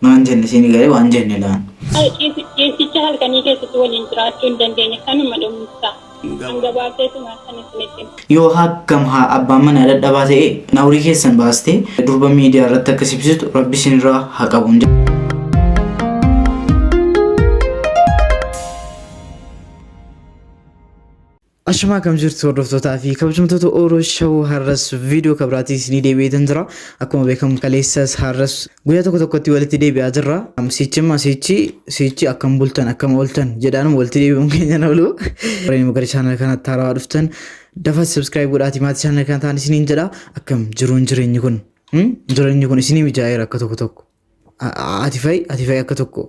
Maan jenne isiin garee waan jenne laan. Ciisicha halkanii keessatti waliin jiraachuu hin dandeenye kanuma dhumsa. Hanga baaseetuma kan isinitti hima. Yoo hakkam haa abbaan manaa dadhabaa ta'e naurii keessan baastee durba miidiyaa irratti akka sibsitu rabbi isinirraa haa qabu. Ashamaa kam jirtu hordoftootaa fi kabajamtoota Oro Show har'as viidiyoo kabiraatii isinii deebi'eetan jira. Akkuma beekamu kaleessas har'as guyyaa tokko tokkotti walitti deebi'aa jirra. Sichimma sichi sichi akkam bultan akkam ooltan jedhaanuma walitti deebi'uun keenya na oolu. Warreen gara chaanala kanatti haarawaa dhuftan dafa subscribe godhaatii maatii chaanala kana ta'an isiniin jedha. Akkam jiruun jireenyi kun? Jireenyi kun isinii mijaa'eera akka tokko tokko. Ati fa'i ati fa'i akka tokko.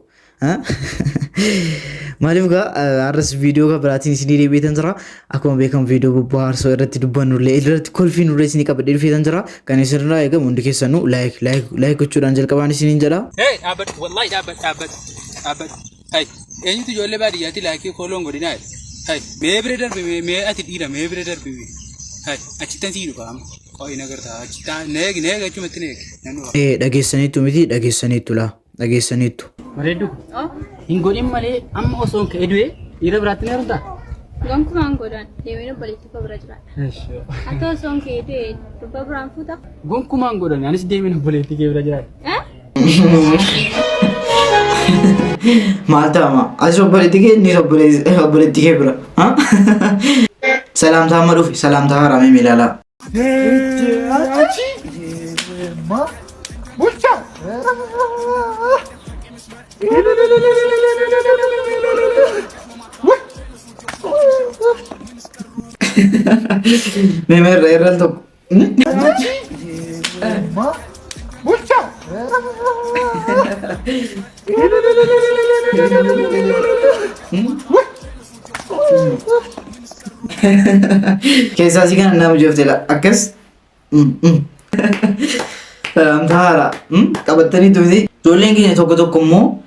Maaliif gaa har'as viidiyoo kan biraatiin isinii deebi'eetan jira. Akkuma beekamu viidiyoo bobbaarsoo irratti dubbannullee irratti kolfii nurree isinii qabadhee dhufeetan jira. Kan isinirraa eegamu hundi keessanuu laayik laayik laayik gochuudhaan jalqabaan isiniin jedha. Hey, dhaabbadhu, wallahi dhaabbadhu, dhaabbadhu, dhaabbadhu. Hay, eenyutu ijoollee baadiyyaatti laakii kooloon godhinaa jedhe. Hay, mee bira darbi mee mee ati dhiira mee bira darbi mee. Hay, achittan sii dhufa amma. Qo'i na gartaa achittaa neegi neegi achumatti neegi. Nan dhufa. Eh, dhageessaniittu miti dhageessaniittu laa dhageessaniittu. Bareeddu hin godhin malee amma osoo hin ka'e du'e dhiira biraatti ni heerumtaa? Gonkumaa hin godhan deemee obboleettii koo bira jiraadha. Ati osoo hin ka'e du'e durbaa biraan fuuta. Gonkumaa hin godhan anis deemeen obboleettii kee bira jiraadha. Eh? Maal ta'ama? Atis obboleetti kee innis obboleessi- obboleetti kee bira. Ha? Salaamtaa amma dhufe salaamtaa haaraa mee ilaalaa. Mee mee irra irra al tokko. Keessaa si kana nama jeeftedha. Akkas. Salaamtaa haaraa. Qabattanii tuuti. Ijoolleen keenya tokko tokko immoo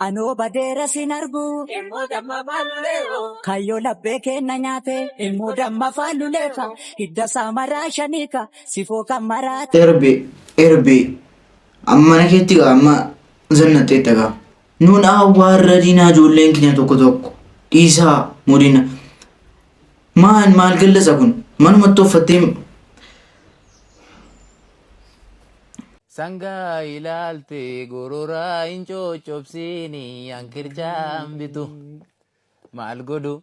Anoo badeera sin argu. Ilmoo damma faalulee hoo. Kayyoo labbee keenna nyaate. Ilmoo damma faalulee ka. Hidda isaa maraa shanii ka. Sifoo kan maraate. Erbe erbe amma mana keetti gaa amma zannaxxeetta gaa nuun awwaarra diinaa ijoolleen keenya tokko tokko dhiisaa mudina maal maal gallasa kun manumatti uffattee Sangaa ilaalte gororaa hin coccobsiini an qircaan bitu maal godhu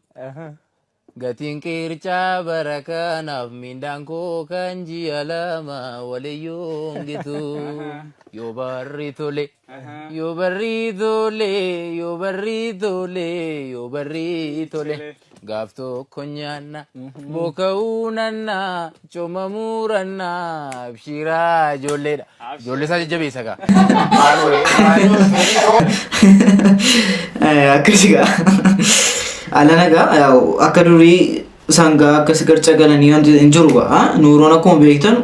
gatiin qircaa bara kanaaf mindaan koo kan ji'a lama waliyyuu hin gitu yoo barri tole. Yoo barrii tole, yoo barrii tole, yoo barrii tole. Gaaf tokko nyaanna, booka'uu nanna, coma muuranna, abshiraa ijoolleedha. Ijoollee isaa jajjabeessa gaa. akkasi gaa alana gaa yaa'u akka durii sangaa akkas garca galanii wanti hin jiru gaa nuuroon akkuma beektan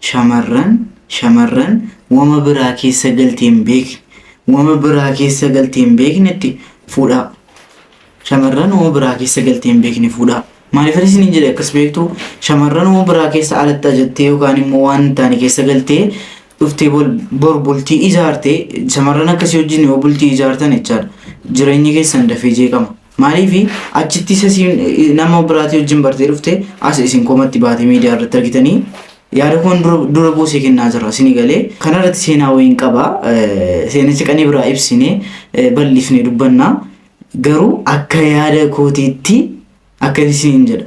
Shamarran shamarran wama biraa keessa galtee hin beekne wama biraa keessa galtee hin beeknetti fuudhaa. Shamarran wama biraa keessa galtee hin beekne fuudhaa. Maaliif ani isiniin jedhe akkas beektu shamarran wama biraa keessa alatti ajattee yookaan immoo waan hin taane keessa galtee dhuftee bol bor bultii ijaarte shamarran akkasii wajjin yoo bultii ijaartan jechaadha. Jireenyi keessan dafee jeeqama. Maaliifi achitti isa siin nama biraatii wajjin bartee dhufte as isin komatti baate miidiyaa irratti argitanii yaada koon dura- dura buusee kennaa jira isinii galee kana irratti seenaa wayiin qaba Eh, seenicha qanii biraa ibsine eh, bal'ifne dubbanna garuu akka yaada kootiitti akka isin jedha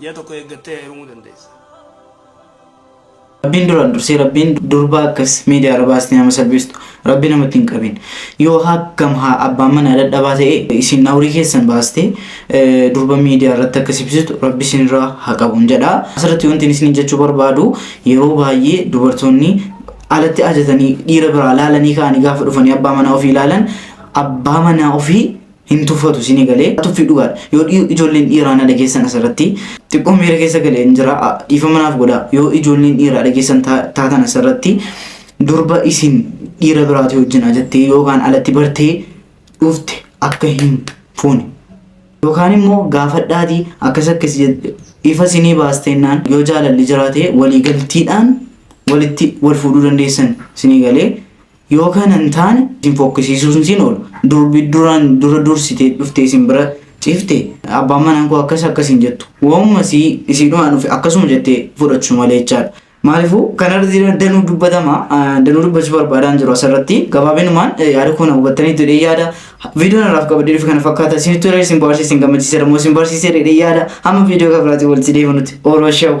Ji'a tokko eeggattee heerumuu dandeessa. Rabbiin duraan dursee rabbiin durbaa akkas miidiyaa irra baastee nama salphistu rabbi namatti hin qabin yoo hakkam haa abbaan manaa dadhabaa ta'e isin nawrii keessan baastee eh, durba miidiyaa irratti akka sibsistu rabbi isinirraa haa qabuun jedha asirratti wanti isin jechuu barbaadu yeroo baay'ee dubartoonni alatti ajatanii dhiira biraa laalanii ka'anii gaafa dhufanii abbaa manaa ofii laalan abbaa manaa ofii hin tuffatu isinii galee tuffii dhugaadha yoo dhiyoo ijoolleen dhiiraa na dhageessan asirratti xiqqoo miira keessa galee hin jira dhiifama naaf godha yoo ijoolleen dhiiraa dhageessan taatan asirratti durba isin dhiira biraatii wajjin ajattee yookaan alatti bartee dhufte akka hin fuune yookaan immoo gaafadhaatii akkas akkas ifa isinii baasteennaan yoo jaalalli jiraate waliigaltiidhaan walitti wal fuudhuu dandeessan isinii galee Yoo kana hin taane isin fokkisiisuus hin siin oolu. Durbi duraan dura dursitee dhuftee isin bira ciifte abbaan manaan koo akkas akkas hin jettu. Waanuma isii isiidhumaan dhufe akkasuma jettee fudhachu malee jechaadha. Maaliifuu kanarratti danuu dubbatama. Danuu dubbachuu barbaadaan jiru asirratti. Gabaabinumaan yaada koo na hubattaniitu jedhee yaada. Viidiyoon irraaf qabadee dhufe kana fakkaata. Isinitti tolee isin bohaarse isin gammachiiseera moo isin barsiiseera jedhee yaada. Hamma viidiyoo kan biraatiin walitti deebinutti. Ooroo shawu.